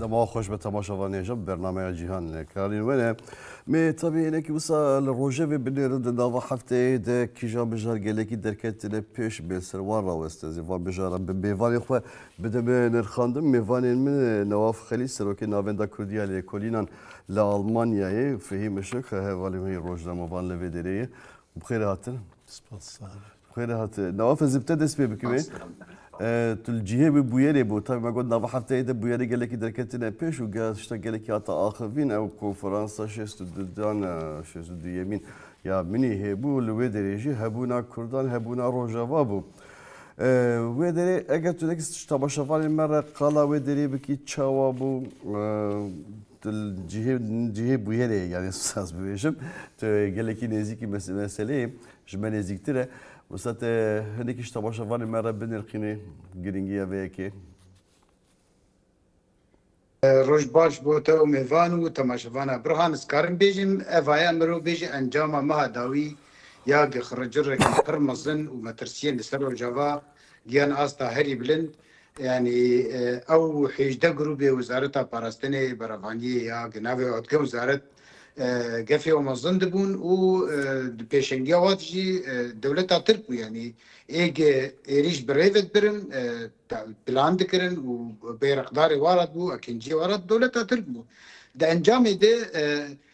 Dema xweş be temaşevanê jî bi bernameya cîhan li karîn wene. Mê tabî hinekî wisa li rojevê binêrin di nava hefteyê de kîjan mijar gelekî derketine pêş bên ser wan rawestin zî van mijaran bi mêvanên xwe bide me nirxandin. Mêvanên min Newaf Xelîl serokê Navenda Kurdiya Lêkolînan li Almanyayê Fehîm Işik hevalî wê rojnamevan li vê derê ye. Bi xêr hatin. Spas. Xwê re hat. Nawa fezibte dest pê bikivê. Tu li cihê wî bûyerê bû. Tabi me got nava hefteyê de bûyerê gelekî derketine pêş û gel tişta gelekî hata axivîn ew konferansa şêst û du dan şêst û duyemîn ya Munîhê bû li wê derê jî hebûna Kurdan hebûna Rojava bû. Wê derê eger tu nekî tamaşevanên me re qala wê derê bikî çawa bû Tu li cihê cihê bûyerê yê yanî saz bibêjim tu gelekî nêzîkî meseleyê ji me nêzîktir e. Wisa te hinekî ji temaşevanê me re binirxînî girîngiya vê yekê. Roj baş bo te û mêvan û temaşevana birhan ez karim bêjim eva ye mirov bêje encama meha dawî ya gixiricirrekî pir mezin û metirsiyên li ser rojava giyan asta herî bilind Yanî ew hêjdeh grûbê Wizareta Parastinê beravandiye ya di navê Otgem Wizaret gefê wan ve zin dibûn û di pêşengiya wan de jî dewleta Tirk bû. Yanî êg êrîş bi rê ve dibirin, plan dikirin û bêreqdarê wan re dibû, akinciyê wan re dewleta Tirk bû. Di encamê de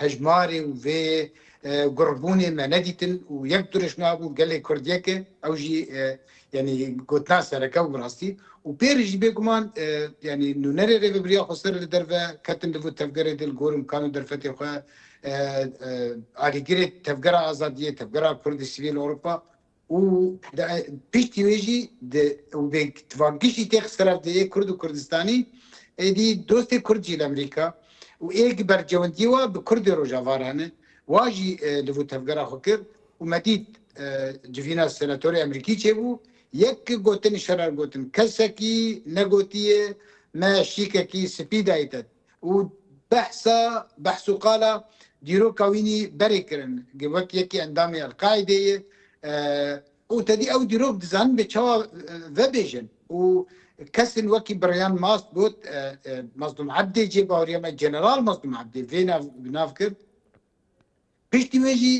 Hejmarê û vê gurbûnê me nedîtin û yek duriş nabû gelê Kurd yek e, ew jî yanî gotina sereke bi rastî û pê re jî bêguman yanî nûnerê Rêvebiriya Xweser li derve ketin li vir tevgerê de li gor îmkan û derfetê xwe alîgirê Tevgera Azadiyê, Tevgera Kurdî Sivîl Ewropa û piştî wê jî di û bê tivakgiş jî tê xistiraf di ê Kurd û Kurdistanî êdî dostê Kurd jî li Emerîka û ê gi bercewendîyê wa bi Kurdê Rojava re ne wa jî li vir tevgera xwe kir û me dît civîna senatorê Emerîkî çêbû yek gotin şerer gotin kesekî negotîye me şîkekî spî dayî te. û behsa behs û qala dîroka wî nî berê kirin ke wek yekê endamê El-Qaîdê ye û tedî ew dîrok dizanin bê çawa vebêjin û kesên wekî Brian Mast got Mazlûm Ebdê cê baweriya me General Mazlûm Ebdê vê nav bi nav kir. Piştî wê jî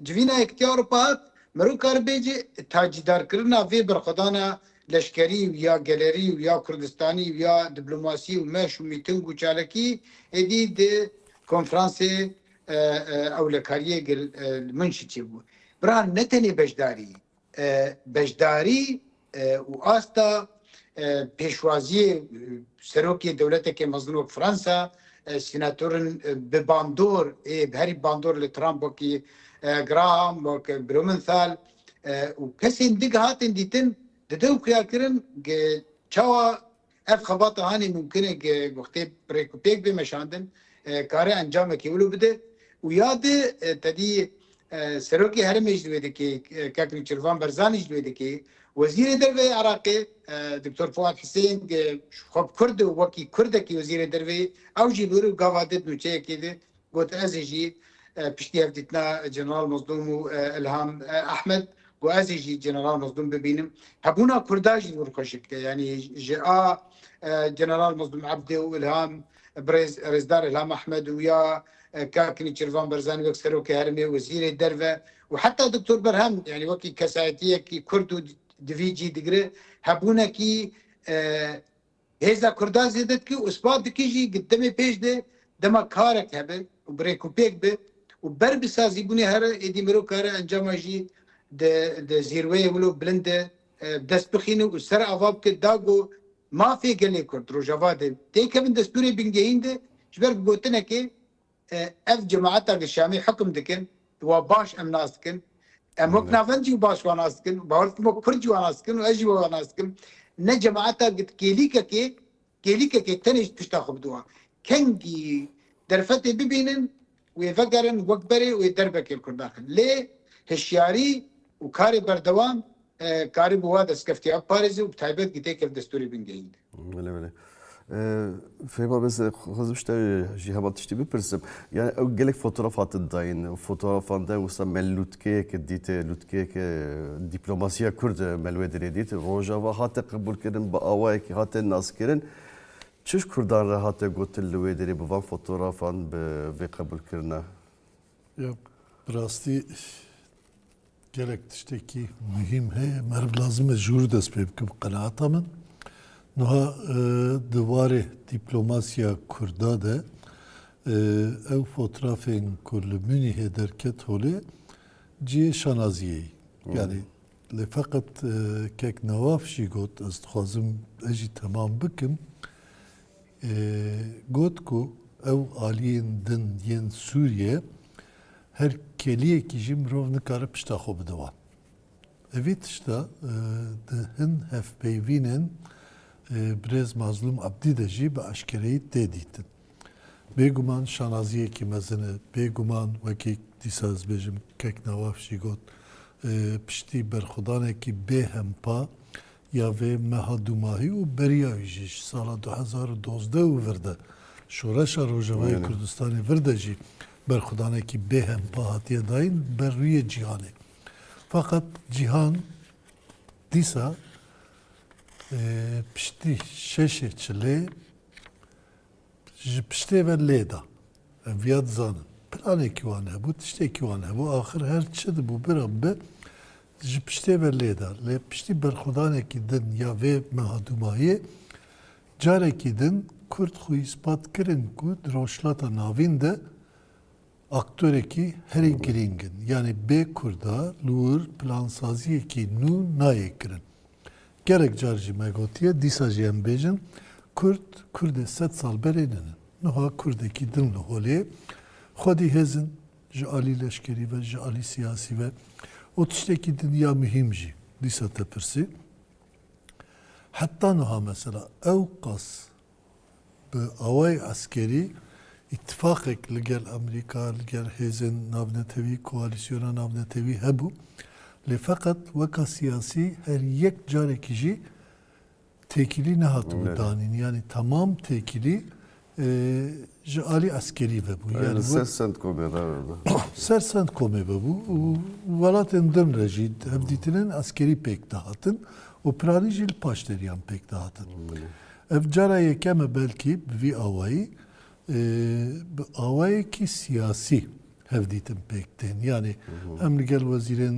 civîna Yekîtiya Ewropa hat, Mirov karibê ji tacîdarkirina vê berxwedana leşkerî û ya gelerî û ya kurdistanî û ya diplomasî û meş û mîting û çalakî êdî di konfransê ewlekariyê li Munşîçê bû. Bira ne tenê beşdarî, beşdarî û asta pêşwaziyê serokê dewleteke mezin wek Fransa, senatorên bi bandor ê bi herî bandor li Trump wekî Graham, wek Blumenthal û kesên din hatên dîtin dide û xiyalkirin çawa Ev xebata hanê mumkin e ke guxtê pirêk û pêk bê meşandin, kare encamekî wilo bide û ya di tedî Serokê Herêmê jî di wê dikê, kek Nûçirvan Berzanî jî di wê dikê, Wezîrê Derve yê Iraqê Doktor Fuad Husên ji xwe bi Kurd û wekî Kurdekî Wezîrê Derveyê ew jî li wir û gava di di nûçeyekê di Got, Ez ê jî piştî ev dîtina General Mezlûm û Îlham Ehmed got, Ez ê jî General Mezlûm bibînim. Hebûna Kurda jî wir xweş dike. Yanî ji a General Mezlûm Ebdê û Îlham Birêz Rêzdar Îlham Ehmed û ya Kak Nîçirvan Berzanî wek Serokê Herêmê, Wezîrê Derve û heta Doktor Berhem yanî wekî kesayetiyekî Kurd û di vî cî digire hebûnekî Hêza Kurdan zêde dike û spa dike jî ku demê pêş de dema karek hebe û bi rêkûpêk be û ber bi sazîbûnê here êdî mirov kare encama jî di di zîrweyê wilo bilind de dest bixîne û ser ava bike da ku mafê gelê Kurd, Rojava de têkevin destûrê bingehîn de ji ber bi gotinekê Ev cemaeta li Şamê hukm dikin wa baş em nas dikin. Em wek navend jî baş wan nas dikin. Bawer dikim wek kurd jî wan nas dikin û ez jî we wan nas dikim. Ne cemaeta gid kêlîkekê, kêlîkekê tenê ji pişta xwe bidowa. Kengî derfetê bibînin wê vegerin wek berê wê derbekê li kurd daxin. Lê hişyarî û karê berdewam karî bi wa destkeftîya biparêzê û bi taybet gîtê kevdestûrî bingehîn. Belê belê. Fêma biz xwezim ji te jî hema tiştî bipirsim. Yani ew gelek fotoğraf hatin dayîn. Fotoğrafan de wisa me lûtkeyeke dîte, lûtkeyeke dîplomasiya Kurd me li wê derê dît. Rojava hate qebûlkirin, bi awayekî hate naskirin. Çi ji Kurdan re hate gotin li wê derê bi van fotoğrafan bi vê qebûlkirina? Ya bi rastî Gelek tiştekî muhîm heye meriv lazim e ji wir dest pê bike bi qenaata min. Nuha di warê dîplomasiya kurda de ew fotrafên ku li Munîhê derket holê cihê şanaziyê yî. Yanî lê feqet kek Nawaf jî got ez dixwazim ez jî temam bikim. Got ku ew aliyên din yên Sûriyê her keliyekî jî mirov nikare pişta xwe bide wan. Evî tişta di hin hevpeyvînên birêz Mazlûm Ebdî de jî bi eşkereyî tê dîtin. Bêguman şanaziyekî mezin e. Bêguman wekî dîsa ez bêjim Keknawaf jî got, piştî berxwedanekî bêhempa Ya vê meha dûmahî û beriya wî jî ji sala du hezar û dozdeh û vir de Şoreşa Rojavayê Kurdistanê vir de jî berxwedanekî bêhempa hatiye dayîn ber rûyê cîhanê. Feqet cîhan dîsa piştî şeşê çilê Ji piştê ve lê da. Em viya dizanin. Planekî wan hebû, tiştekî wan hebû, axir her çi dibû bira bi, ji piştê ve lê da. Lê piştî berxwedanekî din ya vê meha dûmahiyê, carekî din Kurd xwe îspat kirin ku di Rojhilata Navîn de, Aktorekî herî girîng in. Yanî bê Kurda li wir plansaziyekî nû nayê kirin. Gelek car jî me gotiye, dîsa jî em bêjin, Kurd, Kurdê sed sal berê ninin. Nuha Kurdekî din li holê, xwedî hêz in, ji alî leşkerî ve, ji alî siyasî ve û tiştekî din ya muhîm jî dîsa te pirsî, Heta nuha mesela ewqas Bi awayê eskerî, îtîfaqek li gel Amerîka, li gel hêzên navnetewî, koalîsyona navnetewî hebû, lê feqet weka siyasî her yek carekî jî têkilî nehatibû danîn. Yanî temam têkilî ji alî eskerî vebû. Li ser Centcomê re vebû. Ser Centcomê vebû û welatên din re jî hevdîtinên eskerî pêk dihatin û piranî jî li paşderiyan pêk dihatin. Ev cara yekem e belkî bi vî awayî bi awayekî siyasî hevdîtin pêk tên. Yanî hem li gel wezîrên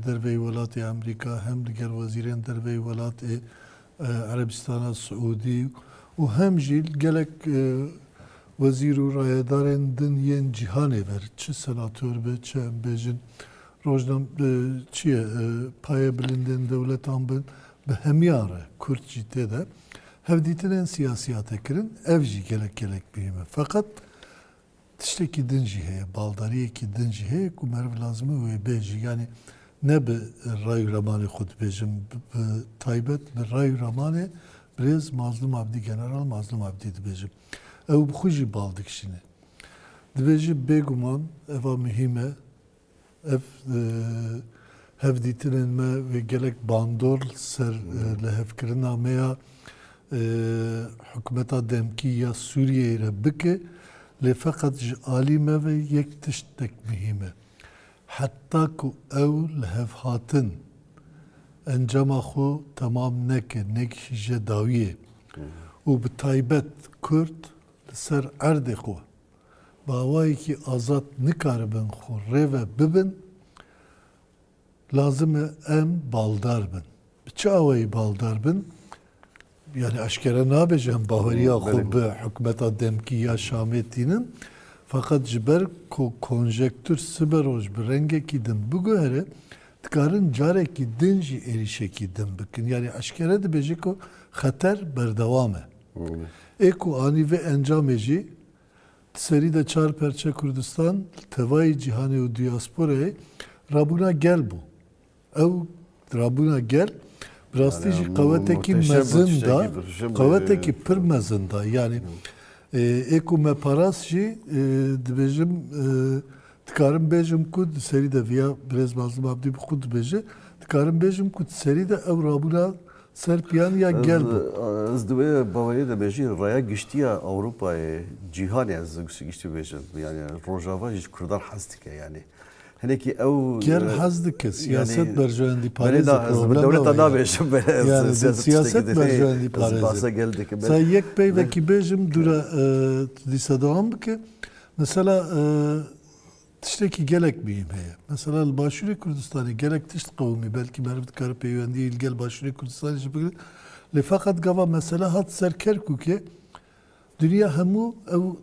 derveyî welatê Amerîka hem li gel wezîrên derveyî welatê Erebîstana Siûdî û hem jî gelek wezîr û rayedarên din yên cîhanê ver çi senator be çi em bêjin rojnam çi ye paye bilindên dewletan bin Bi hemiyan re Kurd jî tê de hevdîtinên siyasiyate kirin, ev jî gelek gelek muhîm e. Feqet tiştekî din jî heye, baldariyekî din jî heye ku meriv lazim e wê bêje. Yanî ne bi ray û ramanê xwe dibêjim, bi taybet bi ray û ramanê birêz Mazlûm Abdî, General Mazlûm Abdî dibêjim. Ew bi xwe jî bal dikişîne. Dibêje bêguman eva muhîm e Ev hevdîtinên me wê gelek bandor li ser lihevkirina me ya hikûmeta demkî ya Sûriyeyê re bike, lê feqet ji alî me ve yek tişt tek mihîm e. Heta ku ew lihevhatin encama xwe temam neke, nekişîje dawiyê û bi taybet Kurd li ser erdê xwe, Bi awayekî azad nikaribin xwe rê ve bibin, lazim e em baldar bin. Bi çi awayî baldar bin? Yanî eşkere nabe ji em baweriya xwe bi hikûmeta demkî ya Şamê tînin. Feqet ji ber ku konjektûr sibe roj bi rengekî din biguhere, dikarin carekî din jî êrîşekî din bikin. Yanî eşkere dibêje ku xeter berdewam e. Ê ku anî vê encamê jî, di serî de çar perçe Kurdistan li tevayî cîhanê û diyasporayê rabûna gel bû. Ew rabûna gel bi rastî jî qewetekî mezin da, qewetekî pir mezin da. Yanî ê ku me parast jî dibêjim, dikarim bêjim ku di serî de viya birêz Mazlum Abdî bi xwe dibêje, dikarim bêjim ku di serî de ew rabûna Serpiyaniya gel bû. Ez di wê baweriyê de me jî raya giştî ya Ewropayê, cîhanê ez giştî bibêjim yanî rojava jî ji kurdan hez dike yanî hinekî ew Gel hez dike siyaset berjewendî parêz e problema wê ye. Bi dewleta nabêjim yanî siyaset berjewendî parêz e. Ez behsa gel dikim. Sey yek peyvekî bêjim dûre tu dîsa dewam bike. Mesela Tiştekî gelek muhîm heye. Mesela li Başûrê Kurdistanê gelek tişt qewimî, belkî meriv dikare peywendiyê li gel Başûrê Kurdistanê jî bigire. Lê feqet gava mesele hat ser Kerkûkê, dinya hemû ew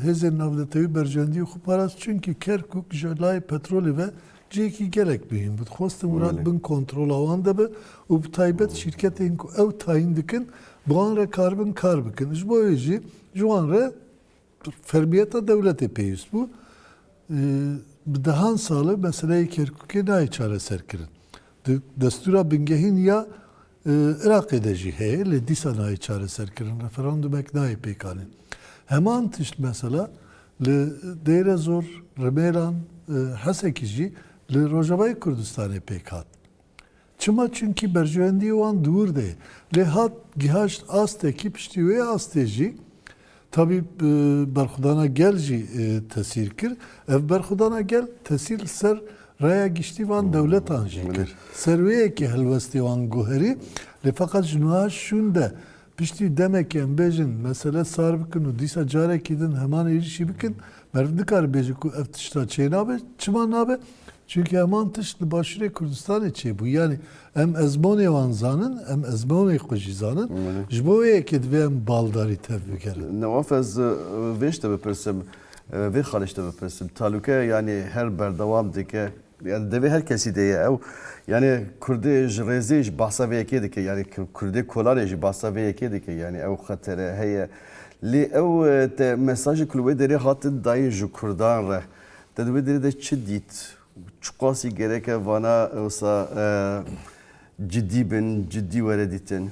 hêzên navnetewî berjewendiyê xwe parast çimkî Kerkûk ji layê petrolê ve cihekî gelek muhîm bû. Dixwestin wilat bin kontrola wan de be û bi taybet şîrketên ku ew tayîn dikin bi wan re karibin kar bikin. Ji bo wê jî ji wan re Fermiyeta dewletê pêwîst bû. Bi dehan sal e meseleyê Kerkûkê nayê çareserkirin. Di destûra bingehîn ya Iraqê de jî heye lê dîsa nayê çareserkirin. Referandumek nayê pêkanîn. Heman tişt mesela li Dêrezor, Rimêlan, Hesekî jî li Rojavayê Kurdistanê pêk hat. Çima çunkî berjewendiyê wan dûr de ye. Lê hat gihaşt astekî piştî wê astê jî tabî berxwedana gel jî tesîr kir. Ev berxwedana gel tesîr li ser raya giştî van dewletan jî kir. Ser wê yekê helwestê wan guherî lê feqet ji niha şûn de Piştî demekê em bêjin mesele sar bikin û dîsa carekî din heman êrîşî bikin, meriv nikare bêje ku ev tişta çênabe. Çima nabe? Çimkî heman tişt li Başûrê Kurdistanê çêbû. Yanî em ezmonê wan zanin, em ezmonê xwe jî zanin. Ji bo wê yekê divê em baldarî tev bigerin. Newaf ez vê ji te bipirsim, vê xalê ji te bipirsim. Talûke yanî her berdewam dike Yani devê her kesî de ye ew. Yani Kurdê ji rêzê jî behsa vê yekê dike. Yani Kurdê kolanê jî behsa vê yekê dike. Yani ew xetere heye. Lê ew te mesajê ku li wê derê hatin dayîn ji Kurdan re te di wê derê de çi dît? Çi qasî gereke vana wisa cidî bin, cidî were dîtin?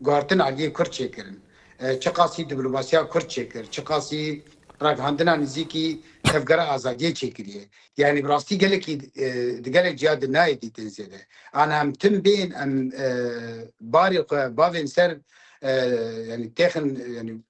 Guhertin aliyê Kurd çêkirin. Çiqasî dîplomasiya Kurd çêkir, çiqasî ragihandina nizîkî Tevgera Azadiyê çêkiriye. Yanî bi rastî gelekî di gelek ciya de nayê dîtin zêde. An em tim bên, em barê xwe bavên ser yanî têxin yanî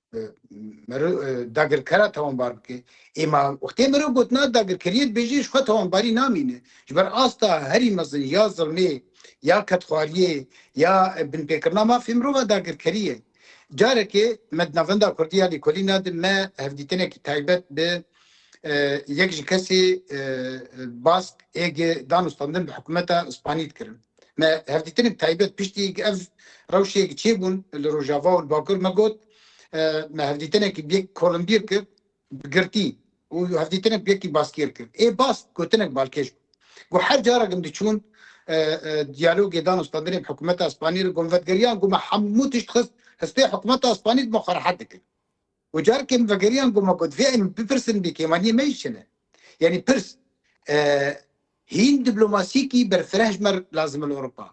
Mero dagirkera tawanbar bike. Ê ma wextê mero gotina dagirkeriyê dibêjê ji xwe tawanbarî namîne. Ji ber asta herî mezin ya zilmê ya kedxwariyê ya binpêkirina mafê mirov a dagirkerî ye. Carekê me di navenda kurdî ya lêkolîna de me hevdîtinekî taybet bi yek ji kesê Bask ê gi dan û standin bi hikumeta Spanî dikirin. Me hevdîtinên taybet piştî ku ev rewşê çêbûn li Rojava û li Bakur me got me hevdîtinekî bi yek kolinbîr kir bi girtî û hevdîtinek bi yekî baskêr kir. Ê bas gotinek balkêş bû. Got her carak em diçûn diyalogê dan standinê bi hikûmeta Spanî re got vetgeriyan ku me hemû tişt xist hespê hikûmeta Spanî dima xwe rehet dikir. Û careke min vegeriyan ku me got vê em bipirsin bê kêmaniyê me jî çi ne? Yanî pirs hîn diplomasiyekî berfireh ji me lazim e li Ewropa,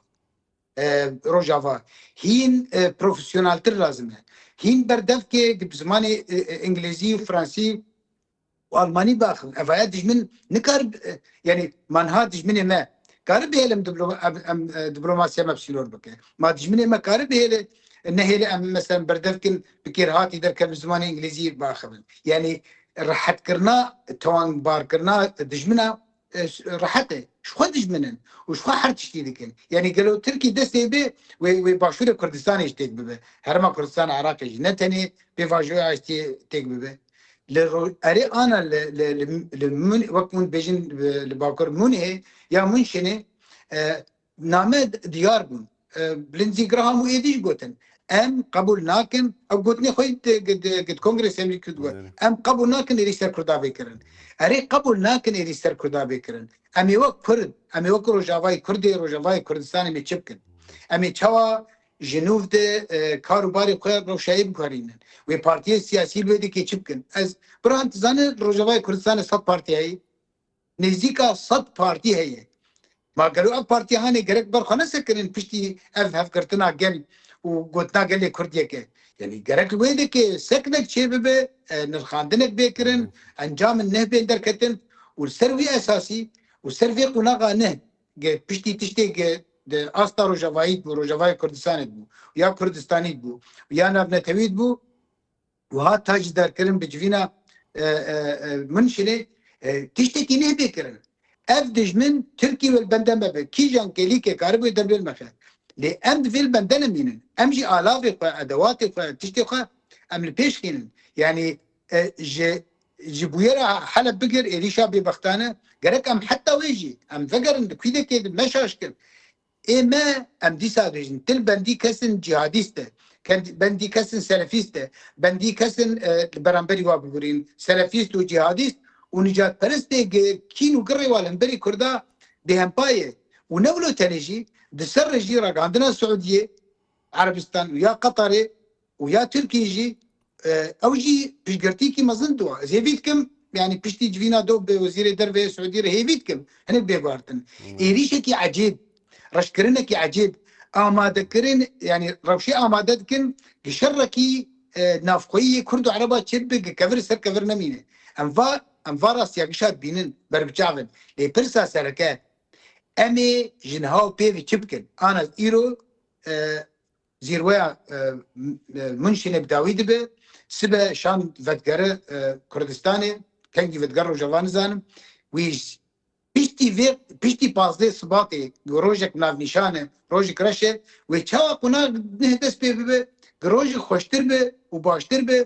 Rojava, hîn profesyonaltir lazim e, hîn berdevkê bi zimanê Îngilîzî û Fransî Almanî baxim ev haya dijmin nikar yanî ma niha dijminê me kari bihêle em em diplomasiya me sînor bike. Ma dijminê me kari bihêle nehêle em meselem berdev bikin bi kêrhatî derke bi zimanê îngilîzî biaxivin. Yanî rehetkirina tonbarkirina dijmina Rehete ji xwe dijmin in û ji xwe her tiştî dikin. Yanî gelo Tirkî destê bê wê Başûrê Kurdistanê jî têk bibe? Herêma Kurdistana Iraqê jî ne tenê bê vajoya aştiyê têk bibe? Li erê ana li wek hûn dibêjin li bakur Mûnihê ya Mûnşenê Name diyar bûn. Lindsey Graham û êdî jî gotin, Em qebûl nakin, ew gotinê xwe di Kongresê Amerîkî de got, Em qebûl nakin êrîş ser Kurdan bê kirin. Erê qebûl nakin êrîş ser Kurdan bê kirin. Em ê wek Kurd, em ê wek Rojavayê Kurdê, Rojavayê Kurdistanê me çi bikin? Em ê çawa ji nûv de kar û barê xwe rewşayê biguherînin? Wê partiyên siyasî li wê dikê çi bikin? Ez, Birhan tu zanî li Rojavayê Kurdistanê sed parti heye? Nêzîka sed partî heye. Ma gelo ev partiyanê gerek ber xwe nesekirin piştî ev hevgirtina gel û gotina gelê Kurd yek e? Yanî gerek li wê dikê seknek çêbibe, nirxandinek bê kirin, encamin neh bên derketin û li ser wî esasî û ser vê qonaxa neh ge piştî tiştê ge di asta rojavayî dibû, rojavayê Kurdistanê dibû û ya Kurdistanî dibû û ya navnetewî dibû, Wiha ta jî derkirin bi civîna Munşinê tiştekî nê bê kirin. Ev dijmin Tirkî wê li bende me be, kîjan kêlîkê karibûyê der bê me xe. Lê em divê li bende ne mînin. Em jî alavê xwe, edewatê xwe, tiştê xwe em li pêş xînin. Yanî ji ji bûyera Heleb bigir êrîşa bêbextane gerek em heta wê jî em vegerin di kûdekê di meşaşkin. Ê me em dîsa bêjin til bendî kesin cîhadîst e, bendî kesin selefîst e, bendî kesin li beramberî wa bigurîn selefîst û cîhadîst û nîcadperistê kîn û girrê wa li hemberî Kurda bêhempa ye û ne wilo tenê jî di ser re jî ragihandina Siûdiyê, Erebistan û ya Qetarê û ya Tirkiyê jî ew jî piştgirtîyekî mezin dua. Ez hêvî dikim yanî piştî civîna do bi Wezîrê Derve yê Siûdî re hêvî dikim hinek bê guhertin. Êrîşekî ecêb, reşkirinekî ecêb, amadekirin yanî rewşê amade dikin gi şerekî navxweyî yê kurd û ereba çêbibe gi kevir ser kevir nemîne. Em va em va rastiyagişa dibînin ber bi çav in. Lê pirsa sereke em ê ji niha û pêvî çi bikin? Ana îro Zîrweya Munşînê bi dawî dibe, sibe şan vetgere Kurdistanê, tengî vetger roja va nizanim. Wî ji piştî vê piştî pazdeh Sibatê ku rojek navnîşan e, rojek reş e, wê çawa qunak neh dest pê bibe ku rojek xweştir be û baştir be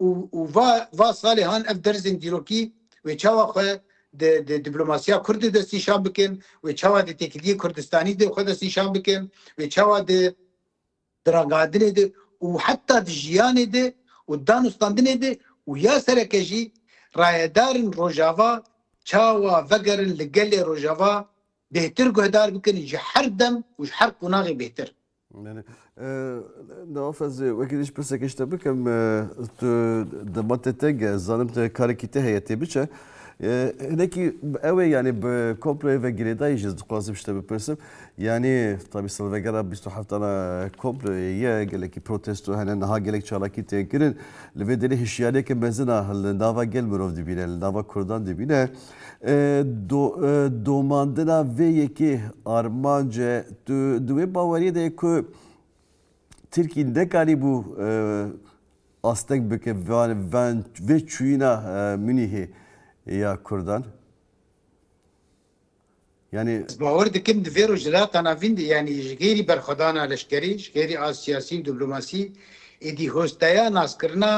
û û va va salê han ev derzên dîrokî wê çawa xwe di di dîplomasiya kurd de destnîşan bikin, wê çawa di têkiliyê kurdistanî de xwe destnîşan bikin, wê çawa di di ragihandinê de û heta di jiyanê de û danûstandinê de û ya sereke jî rayedarên Rojava çawa vegerin li gelê Rojava bêhtir guhdar bikin ji her dem û ji her qonaxê bêhtir. Belê. Di Afezê wekî din ji pirsekê ji te bikim. Tu di matê te ge zanim te karekî te heye tê biçe. Hinekî ew ê yanî bi komployê ve girêdayî ji dixwazim ji te bipirsim. Yanî tabî silvegera bîst û heftana komployê ye gelekî protesto hene niha gelek çalakî tê kirin. Li vê derê hişyariyeke mezin a li nava gel mirov dibîne, li nava Kurdan dibîne. domandina vê yekê armanc e. Tu di wê baweriyê de yê ku Tirkî nekarîbû asteng bike vê çûyîna Munîhê ya Kurdan? Yanî. Ez bawer dikim di vê rojhilatana vîn de yanî ji xêrî berxwedana leşkerî, ji xêrî a siyasî û dîplomasî êdî hosteya naskirina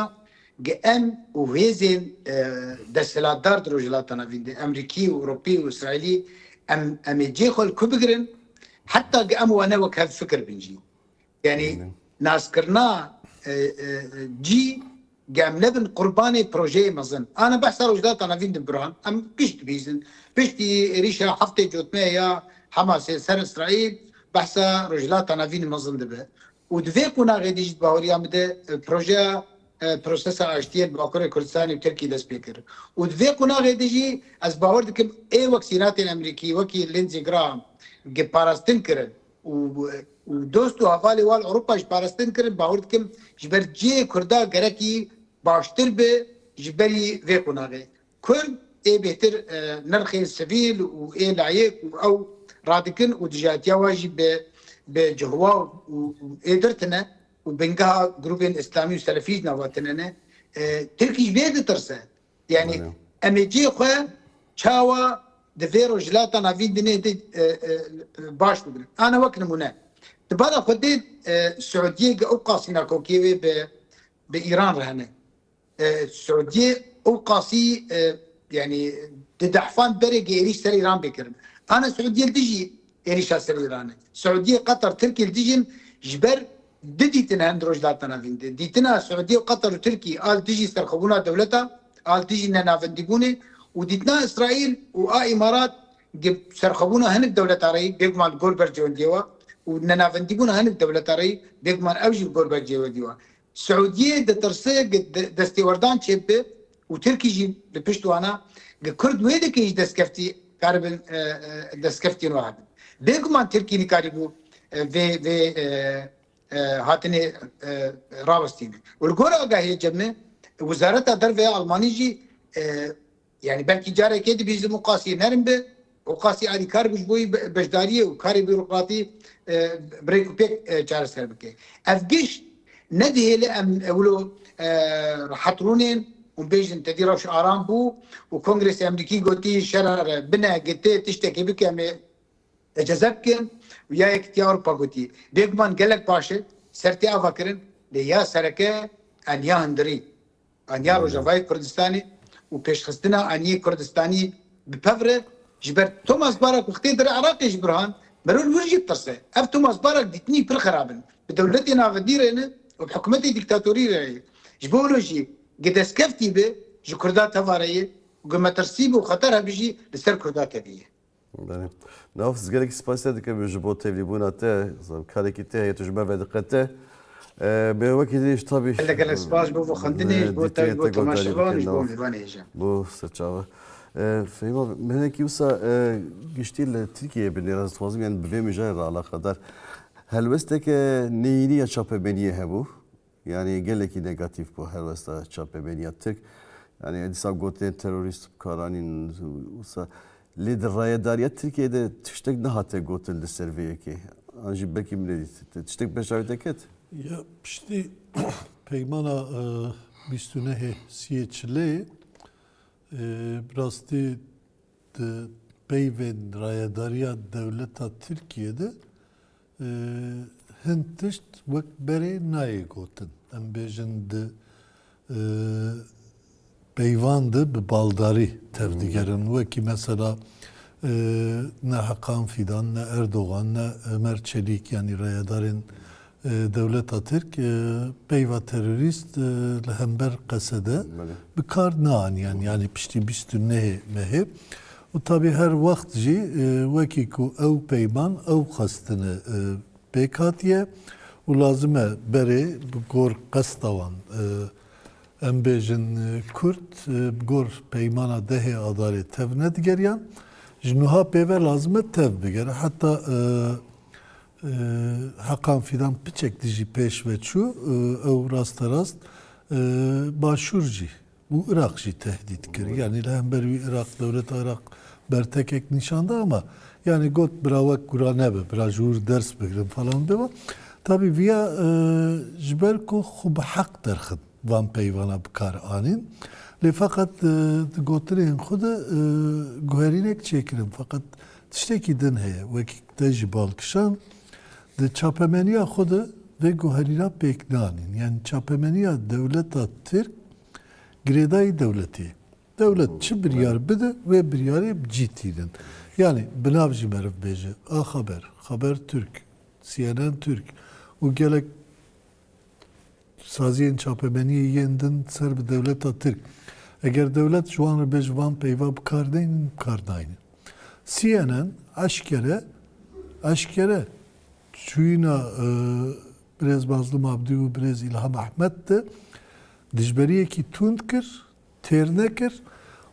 GM û hêzên desthilatdar di rojhilatana vîn de, Emrîkî û Ewropî û Îsraîlî, em em ê cê xwe li ku bigirin heta GM û wane wek hevfikir bin jî. Yanî naskirina cî gemle bin qurbanê projeyê mezin. Ana behsa Rojhilata Navîn de biran, em pişt dibîzin. Piştî êrîşa heftê cotmeyê ya Hemasê ser Îsraîl behsa Rojhilata Navîn mezin dibe û di vê qonaxê de jî di baweriya min de projeya prosesa aştiyê li Bakurê Kurdistanê û Tirkiyê dest pê kir û di vê qonaxê de jî ez bawer dikim ê wek sînatên Amerîkî wekî Lindsey Graham gi parastin kirin. û dost û hevalê wan Ewropa ji parastin kirin, bawer dikim ji ber cihê Kurdan gerekî baştir bi ji berî vê qonagê Kurd ê bêhtir nirxên sivîl û ê layik û ew radikin û dijatiya wan jî bi bi cihwa û ê girtine û bingeha grûbên îslamî û selefî jî nava tune ne. Tirkî ji vê ditirse. Yanî em ê cihê xwe çawa di vê rojhilata navîn di nê de baş bibin. Ana wek nimûne. Di bala xwe dê Siûdiyê ge ew qasî nakokiyê wê bi bi Îran re hene. Siûdiyê ew qasî yanî di dehfan berê ge êrîş ser Îran bê kirin. Ana Siûdiyê li dijî êrîşa ser Îran e. Siûdiyê, Qatar, Tirkiyê li dijîn ji ber Di dîtina em di Rojhilatana vîn de, dîtina Siûdiye û Qetar û Tirkî a li dijî serxwebûna dewleta, a li dijî nenavendîbûnê û dîtina Îsraîl û a Îmarat di serxwebûna hinek dewleta re yî, bêguman li gor bercewendiyê wa û di nenavendîbûna hinek dewleta re yî, bêguman ew jî li gor bercewendiyê wa. Siûdiyê ditirse destêwerdan çêbibe Û Tirkî jî li pişt wan a. Gi Kurd wê dikê ji destkeftî karibin destkeftî riha bin. Bêguman Tirkî nikarîbû vê vê hatinê rawestîne. Û li gor agahiyê cemê Wizareta Derve ya Almanî jî yanî belkî carekê dibî ji muqasî nerm bi û qasî alîkar bû ji bo beşdariyê û karê bîrokratî bi rêk û pêk çareser bike. Ev giş nedihêle em wilo rehet rûnên û bêjin tedî rewş aram bû û Kongresa Emrîkî gotî şerare bine gete tiştekê bike em ê eceze bikin û ya Yekîtiya Ewropa gotî bêguman gelek baş e ser tê ava kirin lê ya sereke em ya hindirî Aniya Rojavayê Kurdistanê û pêşxistina aniyê Kurdistaniyê bi pev re ji ber Thomas Barak û xitê dir Iraqê ji Burhan Merûl wir jî ditirse. Ev Thomas Barak dîtinî pir xerab in. Bi dewletê navendî re ne û bi hikûmetê dîktatorî re ye. Ji bo wilo jî ge destkeftî be ji Kurda tevare ye û ge metirsî be û xeter hebijî li ser Kurda tevî ye. Naf ez gelekî spas te dikim ji bo tevlîbûna te karekî te heye tu ji me ve diqete bê wekî dî ji tabî gelek spas bo bo xwendinê ji bo te bo temaşevan ji bo mêvanê hêja bo serçava Feyma menekî wisa giştî li Tirkiyeyê bi nêrazîxwazî yan bi vê mijayê re alaqedar helwesteke neyînî ya çapemeniyê hebû Yanî gelekî negatîf bû helwesta çapemeniya Tirk. Yanî dîsa gotên terorîst bi kar anîn wisa. Lê di rayedariya Tirkiyeyê de tiştek nehate gotin li ser vê yekê. An jî belkî min nedît. Te tiştek bi heşdawî te ket? Ya piştî peymana bîst û nehê siyê çileyê bi rastî di peyvên rayedariya dewleta Tirkiyeyê de Hin tişt wek berê nayê gotin. Em bêjin di peyvan de bi baldarî tevdigerin. Wekî mesela ne Hakan Fîdan, ne Erdogan, ne Ömer Çelîk yanî rayedarên dewleta Tirk peyva terorîst li hember qesede bi kar naaniyan. Yanî piştî bîst û nehê mehê Û tabî her wext jî wekî ku ew peyman ew xwestine pêk hatiye û lazim e berê bi gor qesta wan em bêjin Kurd bi gor peymana dehê Adarê tev nedigeriyan ji nuha pêve lazim e tev bigere heta Heqan Fîdan piçek dijî pêş ve çû ew rasterast Başûr jî Û Iraq jî tehdît kir. Yanî li hember wî Iraq, dewleta Iraq bertekek nîşan da ama yanî got bira wek kura nebe, bira ji wir ders bigirin falan bê wa. Tabî viya ji ber ku xwe bi heq derxist van peyvana bi kar anîn. Lê feqet di gotinên xwe de guherînek çêkirin. Feqet tiştekî din heye wekî te jî bal kişand. Di çapemeniya xwe de vê guherîna pêk danîn, yani çapemeniya dewleta Tirk girêdayî dewletê ye. Dewlet çi biryar bide wê biryarê bi cî tînin. Yani bi nav jî meriv bêje, A Xeber, Xeber Türk, CNN Türk û gelek Saziyên çapemeniyê yên din ser bi dewleta Tirk. Eger dewlet ji wan re bê ji van peyva bi kar neynin, bi kar naynin. CNN eşkere eşkere çûyîna birêz Mazlûm Abdî û birêz Îlham Ehmed de dijberiyekî tund kir, têr nekir,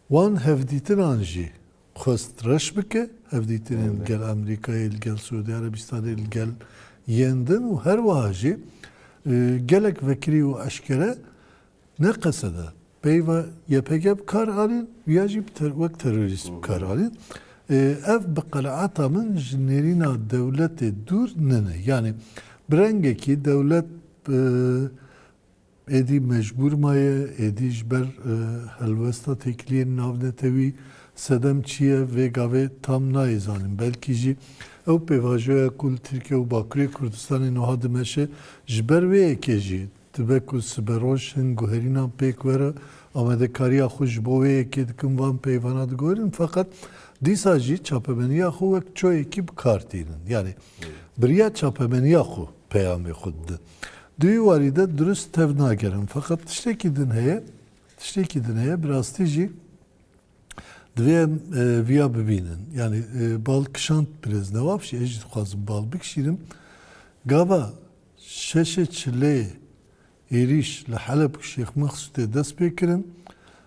wan hevdîtinan jî xwest reş bike hevdîtinên li gel Amerîkayê, li gel Siûdî Erebistanê, li gel yên din û her wiha jî gelek vekirî û eşkere ne qeseda peyva YPG bi kar anîn û ya jî wek terorîst bi kar anîn. Ev bi qenaeta min ji nêrîna dewletê dûr nine. Yanî bi rengekî dewlet Êdî mecbûr maye, êdî ji ber helwesta têkiliyên navnetewî. Sedem çi ye vê gavê tam nayê zanîn. Belkî jî ew pêvajoya ku li Tirkiye û Bakurê Kurdistanê nuha dimeşe ji ber wê yekê jî dibe ku siberoj hin guherînan pêk were, amadekariya xwe ji bo wê yekê dikin van peyvana diguherin feqet dîsa jî çapemeniya xwe wek çoyekî bi kar tînin. Yanî biriya çapemeniya xwe peyamê xwe didin. Di wî warî de dirust tev nagerin. Feqet tiştekî din heye, tiştekî din heye, bi rastî jî divê em e, vîya bibînin. Yanî e, bal kişand birêz Newaf jî, ez jî dixwazim bal bikişînim. Gava şeşê çileyê êrîş li Heleb û Şêx Mexsûtê dest pê kirin.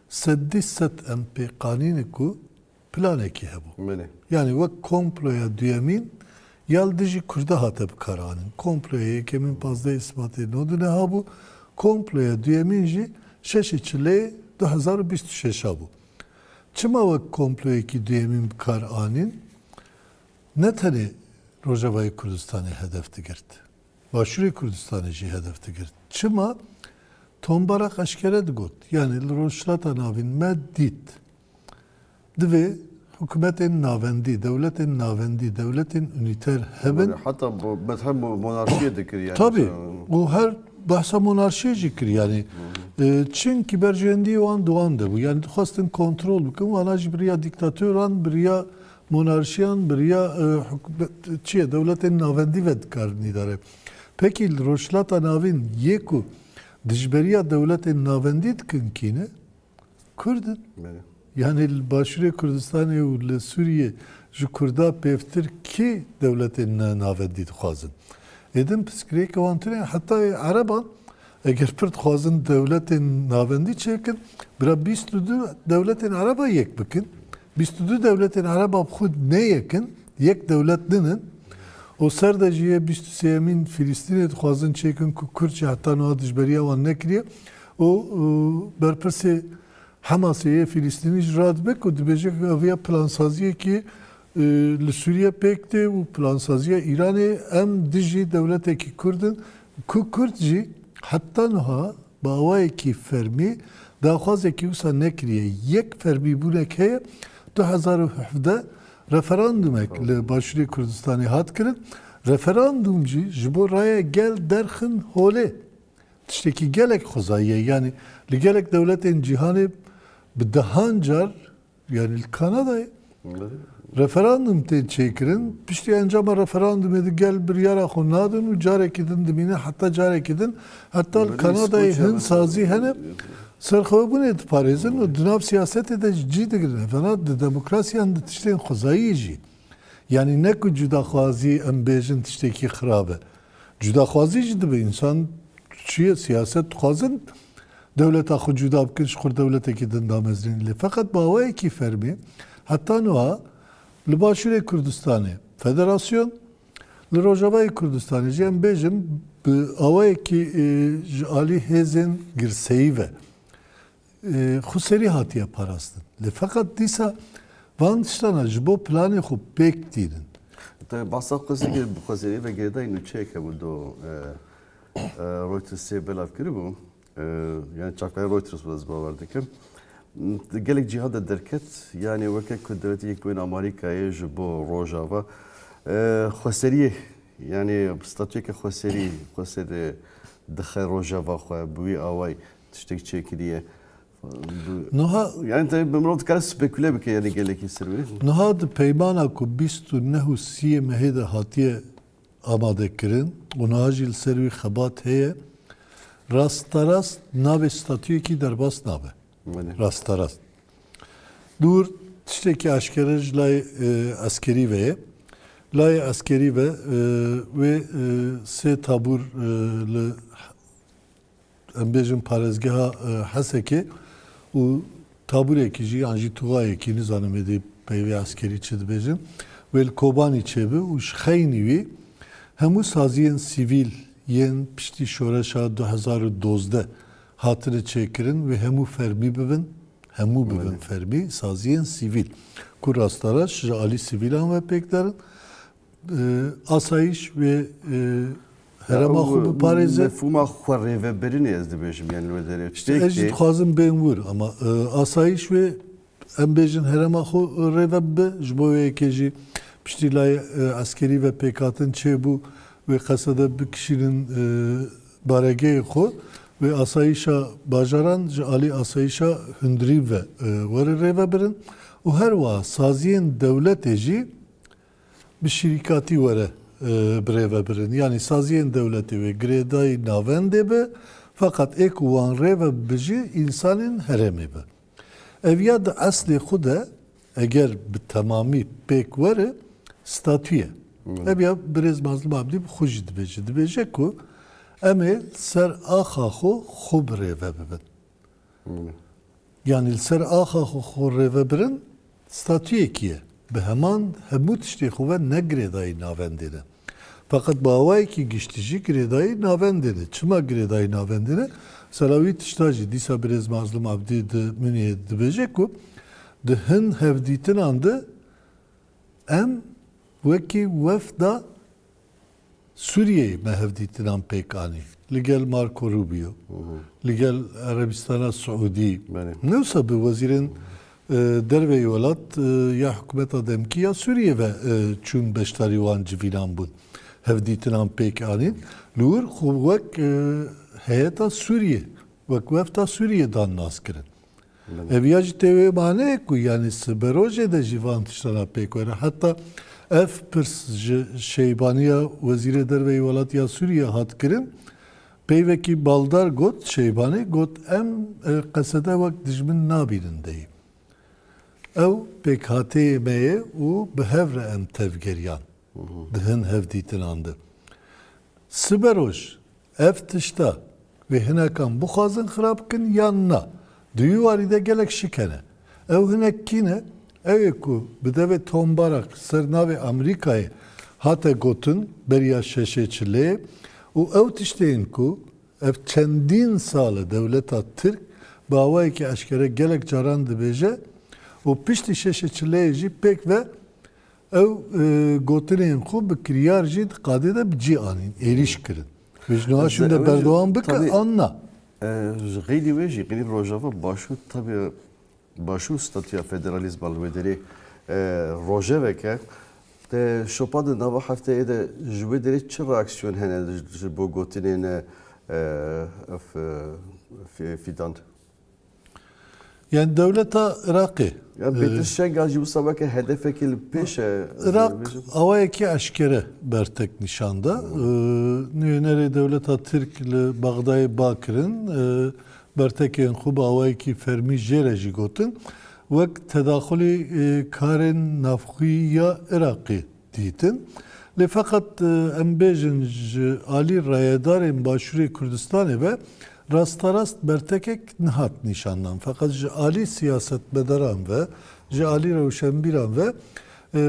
Seddî sed em pê qanîne ku planekî hebû. Yanî wek komploya duyemîn ya li dijî Kurda hate bikaranin. Komploya yekemîn pazdehê Sibatê no di neha bû. Komploya duyemîn jî şeşê Çileyê du hezar û bîst û şeş a bû. Çima wek komployekî duyemîn bikar anîn? Ne tenê Rojavayê Kurdistanê hedef digirt. Başûrê Kurdistanê jî hedef digirt. Çima? Tombarak eşkere digot. Yanî li Rojhilata Navîn me dît. Divê hikûmetên navendî, dewletên navendî, dewletên unîter hebin. Heta bethem monarşiyê dikir yani. Tabii. O her bahsa monarşiyê jî kir yani. Çünkü berjewendiyê wan dowan de bû. Yani dixwestin kontrol bikin. Wana jî biriya dîktatoran, biriya monarşiyan, biriya çiye dewletên navendî ve dikarin îdare. Peki Rojhilata Navîn yê ku dijberiya dewletên navendî dikin kîne? Kurd in. Yanî li Başûrê Kurdistanê û li Sûriyê ji Kurda pêvtir kê dewletên navendî dixwazin? Êdin pirsgirêkê wan tune ye. Heta yê ereban eger pir dixwazin dewletên navendî çêkin, bira bîst û du dewletên ereba yek bikin. Bîst û du dewletên ereba bi xwe ne yek in, yek dewlet din in. Û ser de jî yê bîst û sêyemîn Fîlîstînê dixwazin çêkin ku Kurd jî heta niha dijberiya wan nekiriye. Û berpirsê Hemasê yê Fîlîstînî jî radibe ku dibêje ku ev ya plansaziyekê li Sûriye pêk tê û plansaziya Îranê em dijî dewletekî Kurd in ku Kurd jî heta niha bi awayekî fermî daxwazekî wisa nekiriye. Yek fermîbûnek heye du hezar û hevdeh referandumek li Başûrê Kurdistanê hat kirin. Referandum jî ji bo raya gel derxin holê. Tiştekî gelek xwezayî ye. Yanî li gelek dewletên cîhanê bi dehan car yanî li Kanadayê referandum tên çêkirin. Piştî encama referandumê di gel biryara xwe nadin û carekî din dimîne heta carekî din heta li Kanadayê hin sazî hene serxwebûnê diparêzin û di nav siyasetê de jî cî digirin. Hevana di demokrasiyan di tiştên xwezayî jî. Yanî ne ku cudaxwazî em bêjin tiştekî xirab e. Cudaxwazî jî dibe. Însan çi ye siyaset dixwazin dewleta xwe cuda bikin ji xwe dewletekî din damezrînin. Lê feqet bi awayekî fermî heta niha li Başûrê Kurdistanê federasyon, li Rojavayê Kurdistanê jî em bêjin bi awayekî ji alî hêzên girseyî ve Xweseri hatiye parastin. Lê feqet dîsa van tiştana ji bo planê xwe pêk tînin. Te basa Xweseri kir, Xweseri ve girêdayî nûçeyek hebû do Reutersê belav kiribû. Yani çavkaya Reuters bû ez bawer dikim. Gelek cîha de derket, yani weke ku Dewletê Yekbûyî Amarîkayê ji bo Rojava Xweseriyê yani statuyeke Xweserî, Xweser dixe Rojava xwe bi wî awayî. tiştek çêkiriye. Nuha yani tabii ben bunu kadar speküle bike yani geleki sirvi. Nuha de peymana ku 29 û 30 mehê de hatiye amade kirin û nuha jî li ser wî xebat heye rastarast navê statuyekî derbas nabe. Rastarast. Dûr tiştekî aşkere ji layê eskerî ve ye. Layê eskerî ve wê sê tabûr li em bêjin parêzgeha Hesekê û tabûrekî jî yan jî tuxayekî nizanim êdî peyvê eskerî çi dibêjin wê li Kobanî çêbi û ji xeynî wî hemû saziyên sivîl yên piştî şoreşa du hezar û dozdeh hatine çêkirin wê hemû fermî bibin, hemû bibin fermî saziyên sivîl ku rastaraş ji alî sivîlan ve pêk derin asayîş wê herema xwe biparêze. Mefhûma xwe rêvebirinê ez dibêjim yani li derê. Ez jî dixwazim bên wir ama asayîş wê em bêjin herema xwe rêve bibe ji bo wê yekê jî piştî layê eskerî ve pêkhatin çêbû wê qesede bikişînin baregehê xwe wê asayîşa bajaran ji alî asayîşa hundirî ve were rêvebirin û her wiha saziyên dewletê jî Bi şîrîkatî were birêve birin. Yanî saziyên dewletê wê girêdayî navendê be, feqet ê ku wan rêve bijî însanên herêmê be. Ev ya di eslê xwe de eger bi temamî pêk were statû ye. Ev ya birêz Mazlûm Abdî bi xwe jî dibêje. Dibêje ku em ê li ser axa xwe xwe birêve bibin. Yanî li ser axa xwe xwe rêvebirin statuyekî ye. Bi heman hemû tiştê xwe ve ne girêdayî navendê ne. Feqet bi awayekî giştî jî girêdayî navendê ne. Çima girêdayî navendê ne? Sala wî tişta jî dîsa birêz Mazlum Abdî di Munîhê de dibêje ku di hin hevdîtinan de em wekî wefda Sûriyeyê me hevdîtinan pêk anî li gel Marco Rubio, li gel Erebîstana Siûdî. Newsa bi wezîrên derve yê welat ya hikûmeta demkî ya Sûriyeyê ve çûn beşdarî wan civînan bûn. Hevdîtinan pêk anîn li wir xwe wek heyeta Sûriyê, wek wefda Sûriyê dan naskirin. Ev ya jî tê wê maneyê ku yanî siberojê de jî van tiştan a pêk were. Heta ev pirs ji Şeybaniya Wezîrê Derve yê Welatiya Sûriyê hat kirin. Peyvekî baldar got, Şeybani got em Qesede wek dijmin nabînin deyî. Ew pêkhateyê me ye û bi hev re em tevgeriyan. Di hin hevdîtinan de siberoj ev tişta wê hinekan bixwazin xirab bikin yan na, di wî warî de gelek şik hene. Ew hinek kî ne? Ew ê ku bi devê Tom Barak ser navê Amerîkayê hate gotin beriya şeşê çileyê û ew tiştê in ku ev çendîn sal e dewleta Tirk bi awayekî eşkere gelek caran dibêje û piştî şeşê çileyê jî pêk ve Ew gotinên xwe bi kiryar jî di qadê de bi cî anîn, êrîş kirin. Pêş niha şûn de berdewam bike an na? Ji qeydî wê jî qeydî Rojava Başûr tabe Başûr statûya federalîzma li wê derê rojevek e. Te şopa di nava hefteyê de ji wê derê çi reaksiyon hene ji bo gotinên ev Fîdan? Yani dewleta Iraqê. Ya Pêtir Şengal jî wisa weke hedefekê li pêş e. Iraq awayekî eşkere bertek nîşan da. Nûyenerê dewleta Tirk li Bexdayê ba kirin. Bertekên xwe bi awayekî fermî jê re jî gotin. Wek tedaxulê karên navxwî ya Iraqê dîtin. Lê feqet em bêjin ji alî rayedarên Başûrê Kurdistanê ve rasterast bertekek nehat nîşandan. Feqet ji alî siyasetmedaran ve, ji alî rewşenbîran ve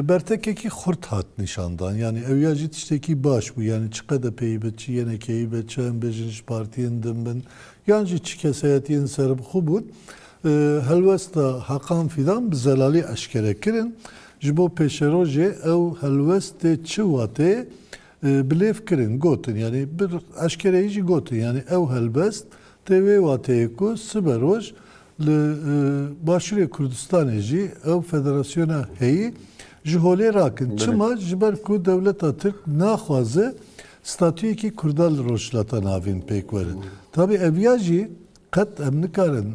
bertekekî xurt hat nîşandan. Yanî ew ya jî tiştekî baş bû. Yanî çi qedepeyî be, çi yenekeyî be, çi em bêjin ji partiyên din bin yan jî çi kesayetiyên serbixwe bûn, helwesta Hakan Fîdan bi zelalî eşkere kirin. Ji bo pêşerojê ew helwestê çi watê bi lêv kirin, gotin yanî bi eşkereyî jî gotin yanî ew helbest tê wê wateyê ku sibe roj li Başûrê Kurdistanê jî ew federasyona heyî ji holê rakin. Çima? Ji ber ku dewleta Tirk naxwaze statuyekî Kurdan li Rojhilata Navîn pêk were. Tabî ev ya jî qet em nikarin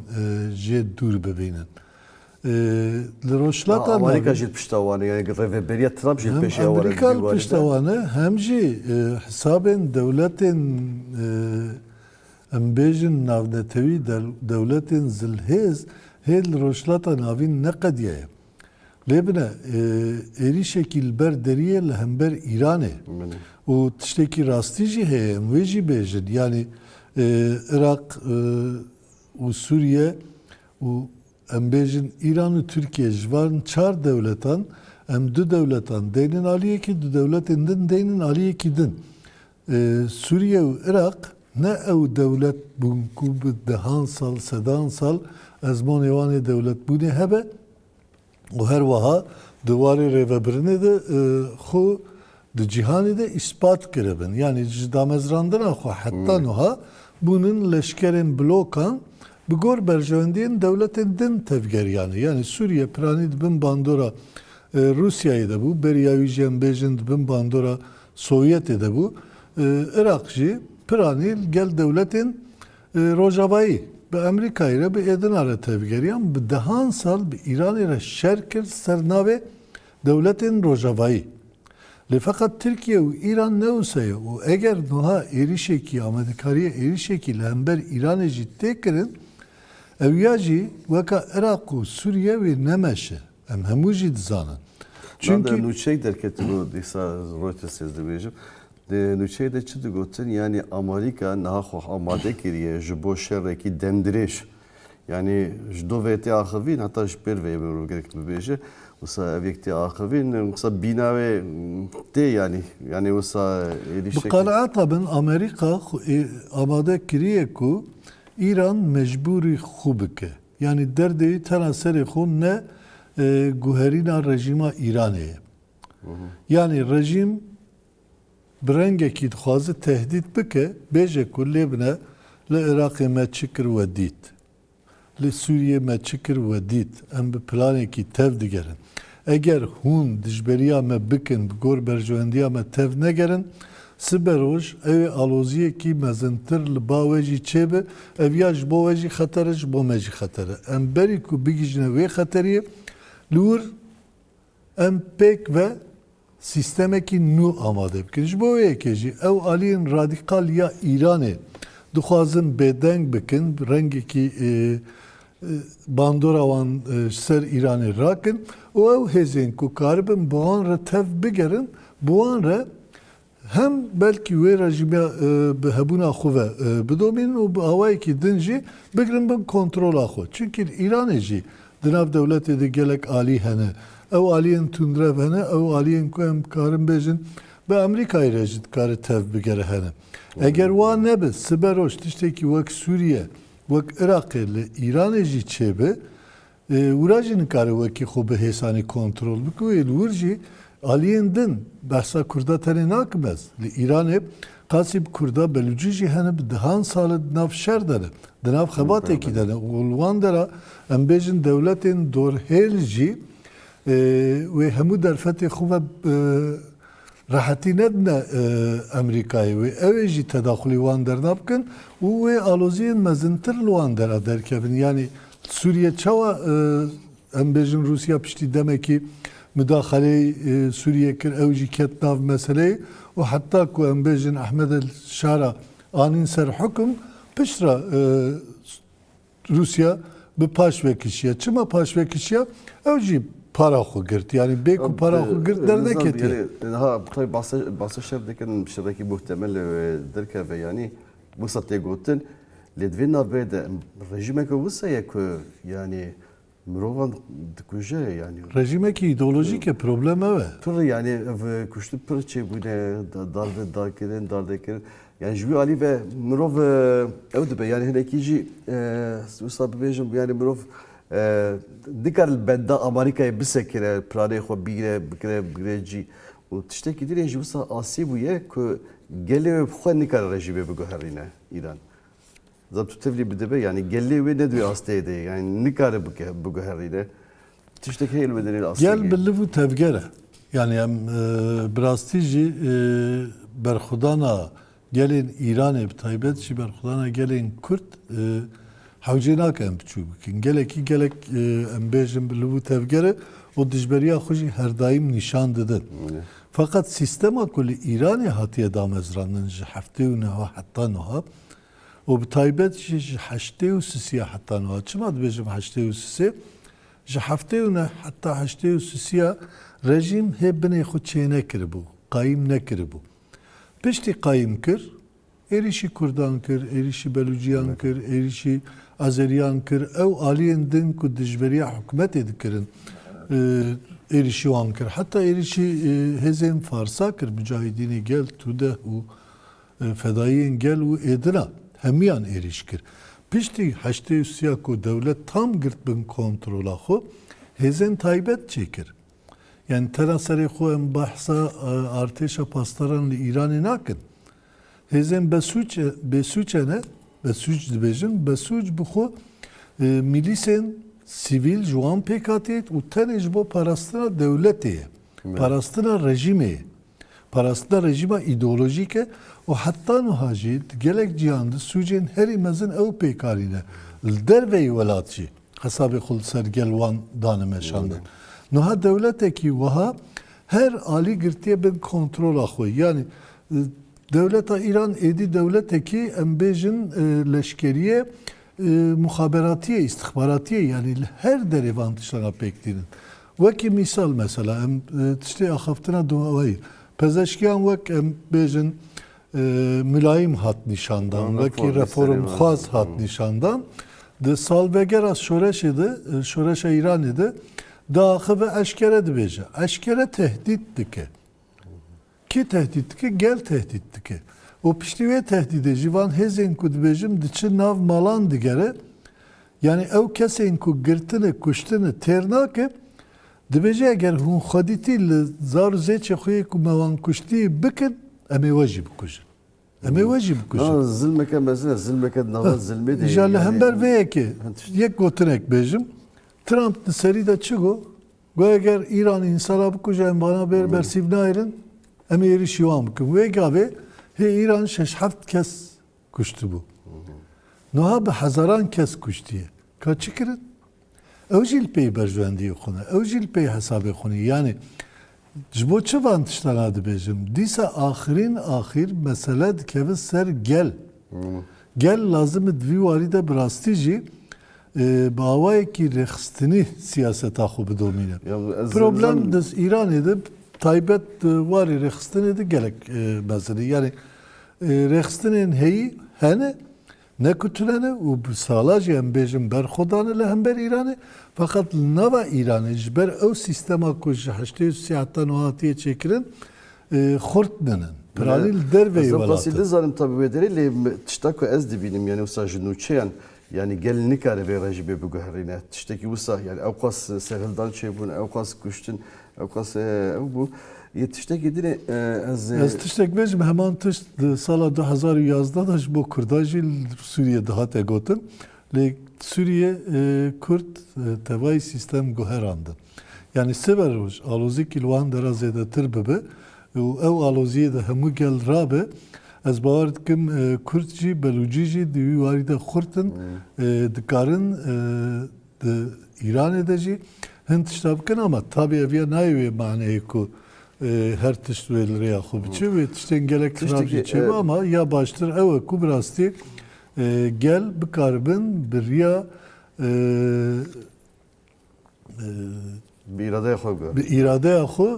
jê dûr bibînin. Li rojhilata navîn. Amerîka jî pişta wan e. Yanî rêveberiya Trump jî pêşî ew e. Hem Amerîka li pişta wan e hem jî hisabên dewletên em bêjin navnetewî dewletên zilhêz hê li Rojhilata Navîn neqediye ye. Lê bine êrîşekî li ber derî ye li hember Îranê. Û tiştekî rastî jî heye em wê jî bêjin. Yanî Iraq û Sûriye û Em bêjin Îran û Tirkiye ji van çar dewletan em du dewletan deynin aliyekî, du dewletên din deynin aliyekî din. Sûriye û Iraq ne ew dewlet bûn ku bi dehan sal, sedan sal ezmonê wan ê dewletbûnê hebe û her weha di warê rêvebirinê de xwe Di cîhanê de îspat kiribin, yanî ji damezrandina xwe heta nuha bûnin leşkerên blokan bi gor berjewendiyên dewletên din tevgeriyan e. Yanî Sûriye piranî di bin bandora Rûsyayê de bû, beriya wî jî em bêjin di bin bandora Sovyetê de bû. Iraq jî piranî li gel dewletên rojavayî bi Emerîkayê re, bi êdina re tevgeriyan. Bi dehan sal bi Îranê re şer kir li ser navê Dewletên Rojavayî. Lê feqet Tirkiye û Îran ne wisa ye û eger nuha êrîşekî, amadekariya êrîşekî li hember Îranê jî tê kirin, ew ya jî weka Iraq û Sûriye wê ne meş e. Em hemû jî dizanin. Çimkî. Navê nûçeyek derketibû dîsa Reuters ez dibêjim. Di nûçeyê de çi digotin, yanî Amerîka niha xwe amade kiriye ji bo şerekî demdirêj. Yanî ji do vê tê axivîn heta ji pêr vê mirov gerek bibêje wisa ev yek tê axivîn wisa bîna wê tê yanî yanî wisa êdî Bi qenaeta min Amerîka amade kiriye ku Îran mecbûrî xwe bike. Yanî derdê wî tena serê xwe ne guherîna rejîma Îranê ye. Yanî rejîm Bi rengekî dixwaze tehdît bike, bêje ku lê bine li Iraqê me çi kir we dît, li Sûriyê me çi kir we dît, em bi planekî tev digerin. Eger hûn dijberiya me bikin bi gor berjewendiya me tev negerin, sibe roj ew ê aloziyekî mezintir li ba we jî çêbi, ev ya ji bo we jî xeter e, ji bo me jî xeter e. Em berî ku bigihîjine wê xeteriyê li wir, Em pêk ve sîstemekî nû amade bikin. Ji bo wê yekê jî ew aliyên radîkal ya Îranê dixwazin bêdeng bikin, rengekî bandora wan ji ser Îranê rakin û ew hêzên ku karibin bi wan re tev bigerin, bi wan re Hem belkî wê rejîmê bi hebûna xwe ve bidomînin û bi awayekî din jî bigirin bin kontrola xwe. Çimkî li Îranê jî di nav dewletê de gelek alî hene. Ew aliyên tundrev hene, ew aliyên ku em dikarin bêjin bi Amerîkayê re jî dikare tev bigere hene. Eger wa nebe, siberoj tiştekî wek Sûriye, wek Iraqê li Îranê jî çêbe, Wira jî nikare wekî xwe bi hêsanî kontrol bike û ên wir jî aliyên din. Behsa kurda tenê nakim ez. Li Îranê qasî bi kurda belûcî jî hene bi dehan sal e di nav şer de ne, di nav xebatekî de ne û li wan dera em bêjin dewletên dorhêl jî wê hemû derfetê xwe ve Rehetî nedine Amerîkayê wê, ew ê jî tedaxulî wan derna bikin û wê aloziyên mezintir li wan dera derkevin. Yanî Sûriye çawa em bêjin Rûsya piştî demekî mudaxeleyî Sûriyê kir ew jî ket nav meseleyê û heta ku em bêjin Ahmed el-Şara anîn ser hukum piştre Rûsya bi paş vekişiya. Çima paş vekişiya? Ew jî para xwe girt. Yanî bê ku para xwe girt derneketiye. Ha taybî basa şer dikin şerekî muhtemel derkeve yanî wisa tê gotin. Lê di vê navê de rejimeke wisa ye ku yanî Mirovan dikuje yani. Rejimekî îdeolojîk e problem ew e. Pir yani ev kuştin pir çêbûne darbe dakirin dardekirin. Yani ji wî alî ve mirov ew dibe yani hinekî jî wisa bibêjim yani mirov nikar li benda Amerîkayê bisekine planê xwe bîne bikire bigire cî. û tiştekî din jî wisa asî bûye ku gelê wê bi xwe nikare rejîmê biguherîne Îran. Zabtu tevlî bidibe yanî gelê wê ne di wê asteyê de ye yanî nikare biguherîne. Tiştek heye li wê derê astê. Gel bi liv û tevger e. Yanî em bi rastî jî berxwedana gelên Îranê bi taybet jî berxwedana gelên Kurd hewcê nake em biçûk bikin. Gelekî gelek em bêjin bi liv û tevger e û dijberiya xwe jî herdaîm nîşan didin. Feqet sîstema ku li Îranê hatiye damezrandin ji heftê û niha heta nuha û bi taybet jî ji heştê û sisiya heta nuha, çima dibêjim heştê û sisê, ji heftê û neh heta heştê û sisiya rejîm hê binê xwe çênekiribû, qayîm nekiribû. Piştî qayîm kir, Êrîşî Kurdan kir, êrîşî Belûciyan kir, êrîşî Azeriyan kir. Ew aliyên din ku dijberiya hikûmetê dikirin êrîşî wan kir. Heta êrîşî hêzên Farsa kir, Mucahidînê Gel, Tudeh û Fedayiyên Gel û Êdina. Hemiyan êrîş kir. Piştî heştê û siya ku dewlet tam girt bin kontrola xwe, hêzên taybet çêkir. Yani te ra serê xwe em behsa artêşa pasdaran li Îranê nakin. Hêzên besûc e, bêsûc e ne, besûc dibêjin, besûc bi xwe mîlîsên sivîl ji wan pêk hatî û tenê ji bo parastina dewletê ye, parastina rejîmê ye. Parastina rejîma îdeolojîk e û heta nuha jî di gelek cîhan de sûcên herî mezin ew pêkarî ne. Li derveyî welat jî hesabê xwe li ser gel wan dane meşandin. Nuha dewletekî wiha her alî girtiye bin kontrola xwe. Yanî dewleta Îran êdî dewletekî em bêjin leşkerîye muxaberatîye, îstixbaratîye yanî li her derê van tiştan re pêk tînin. Wekî mîsal mesela em tiştê axaftina dûaweyî pezeşkiyan wek em bêjin milayîm hat nîşandan, wekî reformxwaz hat nîşandan. Di salvegera şoreşê de, şoreşa Îranê de diaxive eşkere dibêje. Eşkere tehdît dike. Kê tehdît dike? Gel tehdît dike. Û piştî wê tehdîdê jî van hêzên ku dibêjim diçin nav malan digere. Yanî ew kesên ku girtine, kuştine têr nake. Dibêje eger hûn xwedîtî li zar û zêçê xwe yê ku me wan kuştî bikin, em ê we jî bikujin. Em ê we jî bikujin. Na zilmeke mezin e. Zilmeke di nava zilmê de yê. Îja li hember vê yekê yek gotinek bêjim. Trump di serî de çi got? Guh eger Îran însan re bikuje em vana bêr bersîv nayêrin em ê êrişî wan bikin. Wê gavê hê Îran şeş heft kes kuştibû. Nuha bi hezaran kes kuştiye. Ka çi kirin? Ew jî li pey berjwendiyê xwe ne. Ew jî li pey hesabê xwe ne. Yanî ji bo çi van tiştan a dibêjim? Dîsa axirîn axîr mesele dikeve ser gel. Gel lazim e di vî warî de bi rastî jî Bi awayekî rêxistinî siyaseta xwe bidomîne. Problem di Îranê de taybet di warê rêxistinê de gelek mezin e. Yanî rêxistinên heyî hene ne ku tune ne û bi sala jî em bêjin berxwe dane li hember Îranê feqet li nava Îranê ji ber ew sîstema ku ji heştê û sî heta nuha hatiye çêkirin xurt nin in. Piranî li derveyî welat in. Ez ê bizanim ta bi wê derê lê tişta ku ez dibînim yanî wisa ji nûçeyan Yanî gel nikare vê re jî bê biguherîne. Tiştekî wisa yanî ewqas serhildan çêbûn, ewqas kuştin, ewqas ew bû. Yê tiştekî dinê ez Ez tiştek bêjim heman tişt di sala du hezar û yazdeh de ji bo Kurdan jî li Sûriyê dihate gotin. Lê Sûriyê Kurd tevayî sîstem guherandin. Yanî siber roj alozîkî li wan de re zêdetir bibe û ew aloziyê di hemû gel re be, ez bawer dikim kurd jî belûcî jî di wî warî de xurt in, dikarin di Îranê de jî hin tişta bikin ama tabî ev ya nayê wê maneyê ku her tişt wê li rêya xwe biçe wê tiştên gelek xirab jî çêbe ama ya baştir ew e ku bi rastî gel bikaribin bi riya Bi îradeya xwe bigorîn. Bi îradeya xwe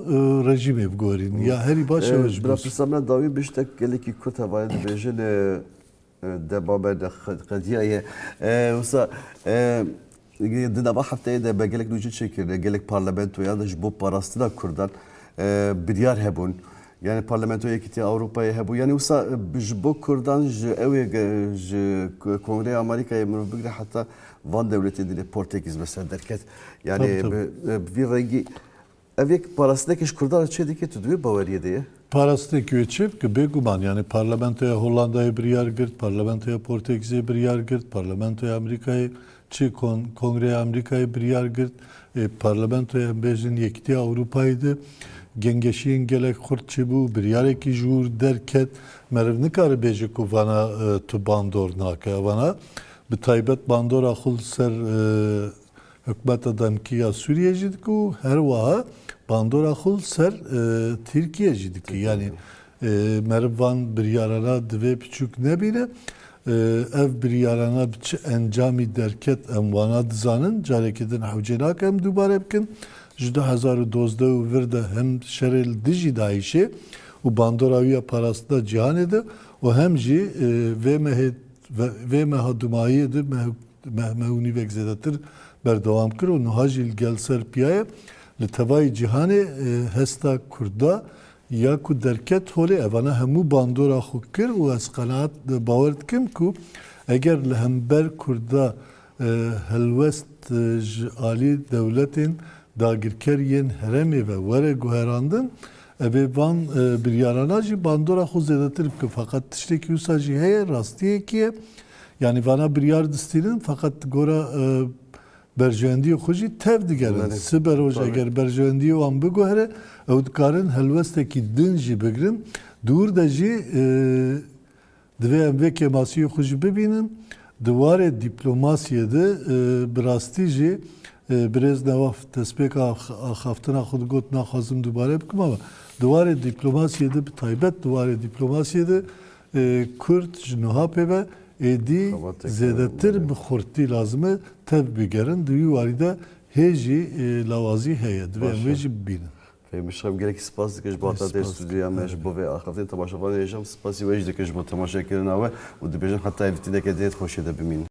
rejîmê bigorîn. Ya herî baş ew ji Bila pirsa me dawî bi ji te gelekî kurt hevayê dibêjin de babe de qediya ye. Wisa di nava hefteyê de me gelek nûcî çêkirine, gelek parlamentoyan de ji bo parastina kurdan biryar hebûn. Yanî Parlamentoya Yekîtiya Ewropayê hebû. Yanî wisa ji bo kurdan ji ew ê ji Kongreya Amerîkayê mirov bigire heta van dewletên dilê portekîz bi ser derket. Yanî bi vî rengî ev yek parastineke ji kurdan re çê dike tu di wê baweriyê de ye? Parastinekî wê çê bike bêguman yanî Parlamentoya Hollandayê biryar girt, Parlamentoya Portekîzê biryar girt, Parlamentoya Amerîkayê Çi Kongreya Amerîkayê biryar girt parlamentoya bêjin Yekîtiya Ewropayê de gengeşiyên gelek xurt çêbû û biryarekî ji wir derket. Meriv nikare bêje ku vana tu bandor nake. Evana bi taybet bandora xwe li ser hikûmeta demkî ya Sûriyê jî dike û her wiha bandora xwe li ser Tirkiyê jî dike. Yanî meriv van biryarana divê piçûk nebîne. Ev biryarana bi çi encamî derket em wana dizanin, carekê din hewcê nake em dubare bikin. Ji du hezar û dozdeh û vir de hem şerê li dijî DAIŞ'ê û bandora wî ya parastina cîhanê de û hem jî vê mehê vê meha dumahiyê de meh meh û nîvek zêdetir berdewam kir û nuha jî li gel ser piya ye. Li tevayî cîhanê hesta kurd da Ya ku derket holê evana hemû bandora xwe kir û ez qenaat bawer dikim ku eger li hember Kurda helwest ji alî dewletên dagirker yên heremê ve were guherandin evê van biryarana jî bandora xwe zêdetir bikin. Feqet tiştekî wisa jî heye, rastiyekî ye. Yanî vana biryar distînin feqet di gora Berjewendiyê xwe jî tev digerin. Sibe roj eger berjewendiyê wan biguhere, ew dikarin helwestekî din jî bigirin. Di wir de jî divê em vê kêmasiyê xwe jî bibînin. Di warê dîplomasiyê de bi rastî jî birêz Newaf destpêka axaftina xwe digot naxwazim dubare bikim ama di warê dîplomasiyê de bi taybet di warê dîplomasiyê de Kurd ji nuha pê ve êdî zêdetir bi xurtî lazim e tev bigerin. Di wî warî de hê jî lawazî heye. Divê em wê jî bibînin. Fehîm Şam gelekî spas dikim ji bo hata te stûdyoya me, ji bo vê axaftinê. Temaşevanê jî em spasî we jî dikim ji bo temaşekirina we û dibêjim heta evîtineke dihê di xweşiyê de bimînin.